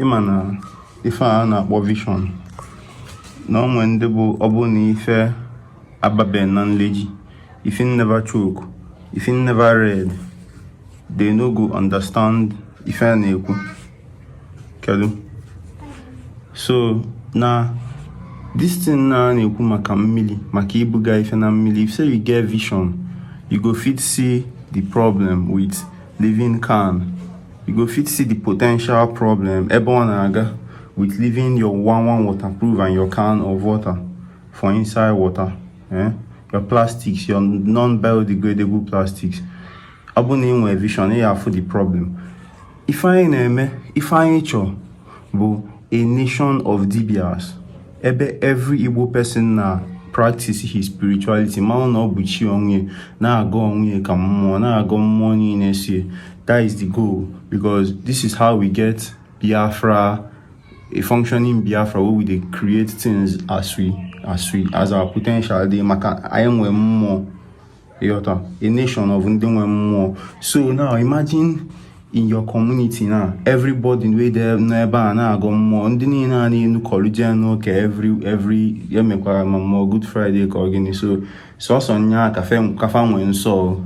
ịma na ife a na-akpọ vision na o nwe ndị bụ ọ bụ na ife ababe na knowledge if you never choke if you never read they no go understand ife a na-ekwu kedu so na this thing na na-ekwu maka mmiri maka ibuga ife na mmili if say you get vision you go fit see the problem with leaving can you go fit see the potential problem ebe ọ na-aga with leaving your one one waterproof and your can of water for inside water eh? your plastics your non-biodegradable plastics ọ bụ na ị nwe vision ị ya-afụ the problem ife anyị na-eme ife anyị chọọ bụ a nation of dibias ebe every Igbo person na practice his spirituality malụ na ọ bụ chi onwe na-agọ onwe ka mmụọ na-agọ mmụọ niile see that is the goal because this is how we get Biafra a functioning Biafra where we dey create things as we as we as our potential dey maka anyị nwe mmụọ ịghọta a nation of ndị nwe mmụọ so now imagine in your community now everybody wey dey n'ebe a na-agọ mmụọ ndị niile a na-enukọlụ jee n'ụka every every emekwara ma mmụọ good friday ka ọ gịnị so sọsọ nya ka fa nwee nsọ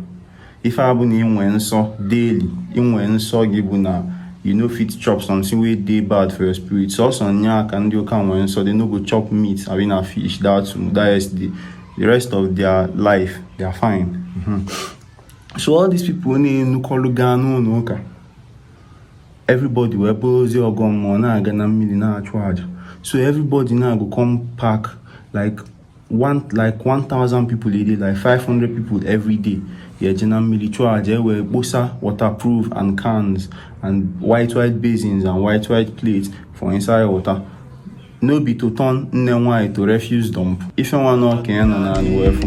ife a bụ na inwe nsọ daily inwe nsọ gị bụ na you no fit chop something wey dey bad for your spirit sọsọ nya ka ndị ụka nwee nsọ they no go chop meat abi na fish that that yesterday the rest of their life they are fine mm -hmm. so all these people na-enukọlụ gaa n'ụnọ ụka everybody wee bụrụzie ọgọ mmụọ na-aga na mmiri na-achụ aja so everybody now go come pack like one like 1000 people a day like 500 people every day ya eje na mmiri chụọ aja e wee kposa waterproof and cans and white white basins and white white plates for inside water no be to turn nne nwanyị to refuse dump ife nwa na ọka ya nọ na anụ efu